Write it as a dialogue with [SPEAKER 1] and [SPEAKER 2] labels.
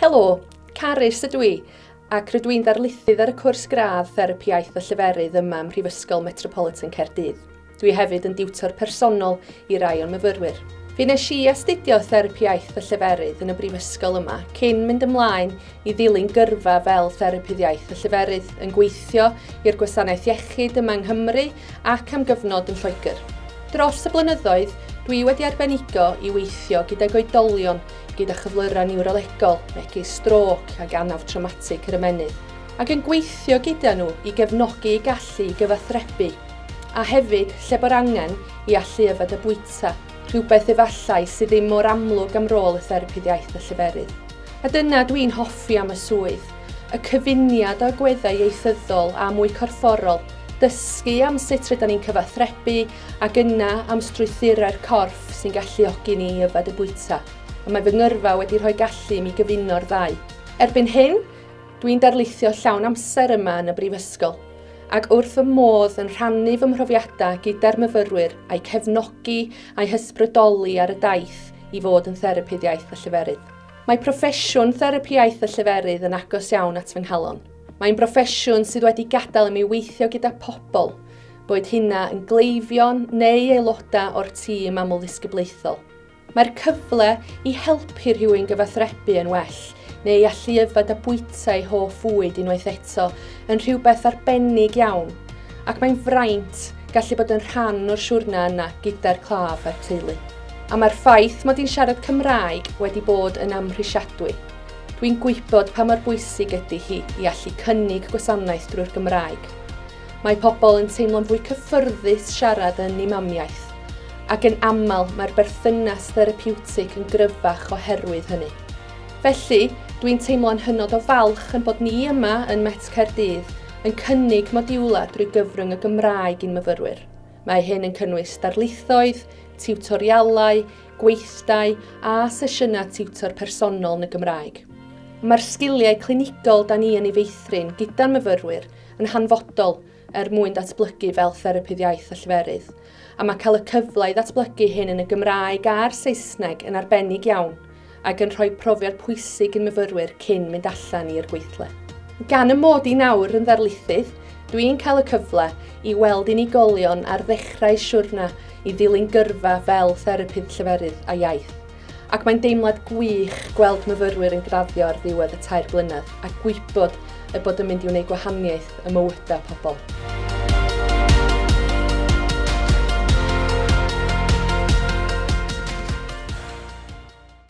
[SPEAKER 1] Helo, Carys ydw i, ac rydw i'n ddarlithydd ar y cwrs gradd Therapi Iaith a Lleferydd yma ym Mhrifysgol Metropolitan Caerdydd. Dwi hefyd yn diwtor personol i rai o'n myfyrwyr. Fe nes i astudio Therapi Iaith a Lleferydd yn y Brifysgol yma cyn mynd ymlaen i ddilyn gyrfa fel Therapydd Iaith y Lleferydd, yn gweithio i'r gwasanaeth iechyd yma yng Nghymru ac am gyfnod yn Lloegr. Dros y blynyddoedd, dwi wedi arbenigo i weithio gydag oedolion gyda chyflyrau niwrolegol, megis strôc ac anaf trawmatig yr ymennydd, ac yn gweithio gyda nhw i gefnogi eu gallu i gyfathrebu, a hefyd, lle bo'r angen, i allu yfed a bwyta, rhywbeth efallai sydd ddim mor amlwg am rôl y Therapydd Iaith y Lleferydd. A dyna dw i'n hoffi am y swydd, y cyfuniad o agweddau ieithyddol a mwy corfforol, dysgu am sut rydan ni'n cyfathrebu ac yna am strwythurau'r corff sy'n galluogi ni i yfed y bwyta, a mae fy ngyrfa wedi rhoi gallu i mi gyfuno'r ddau. Erbyn hyn, dw i'n darlithio llawn amser yma yn y Brifysgol, ac wrth fy modd yn rhannu fy mhrofiadau gyda'r myfyrwyr a'u cefnogi a'u hysbrydoli ar y daith i fod yn Therapydd Iaith a Lleferydd. Mae proffesiwn therapi iaith a lleferydd yn agos iawn at fy nghalon. Mae'n broffesiwn sydd wedi gadael i mi weithio gyda pobl, boed hynna yn gleifion neu aelodau o'r tîm amlddisgyblaethol. Mae'r cyfle i helpu rhywun gyfathrebu yn well neu i allu yfed a bwyta ei hoff fwyd unwaith eto yn rhywbeth arbennig iawn ac mae'n fraint gallu bod yn rhan o'r siwrna yna gyda'r claf a'r teulu. A mae'r ffaith mod i'n siarad Cymraeg wedi bod yn amhrisiadwy. Dwi'n gwybod pa mor bwysig ydy hi i allu cynnig gwasanaeth drwy'r Gymraeg. Mae pobl yn teimlo'n fwy cyffyrddus siarad yn ei mamiaith, ac yn aml mae'r berthynas therapiwtig yn gryfach oherwydd hynny. Felly, dwi'n teimlo'n hynod o falch yn bod ni yma yn Met Caerdydd yn cynnig modiwlau drwy gyfrwng y Gymraeg i'n myfyrwyr. Mae hyn yn cynnwys darlithoedd, tiwtorialau, gweithdai a sesiynau tiwtor personol yn y Gymraeg. Mae'r sgiliau clinigol da ni yn ei feithrin gyda'n myfyrwyr yn hanfodol er mwyn datblygu fel therapydd iaith a lleferydd, a mae cael y cyfle i ddatblygu hyn yn y Gymraeg a'r Saesneg yn arbennig iawn ac yn rhoi profiad pwysig i myfyrwyr cyn mynd allan i'r gweithle. Gan y mod i nawr yn ddarlithydd, dwi'n cael y cyfle i weld unigolion ar ddechrau siwrna i ddilyn gyrfa fel therapydd lleferydd a iaith. ac mae'n deimlad gwych gweld myfyrwyr yn graddio ar ddiwedd y tair blynedd a gwybod y bod yn mynd i wneud gwahaniaeth y mywydau pobl.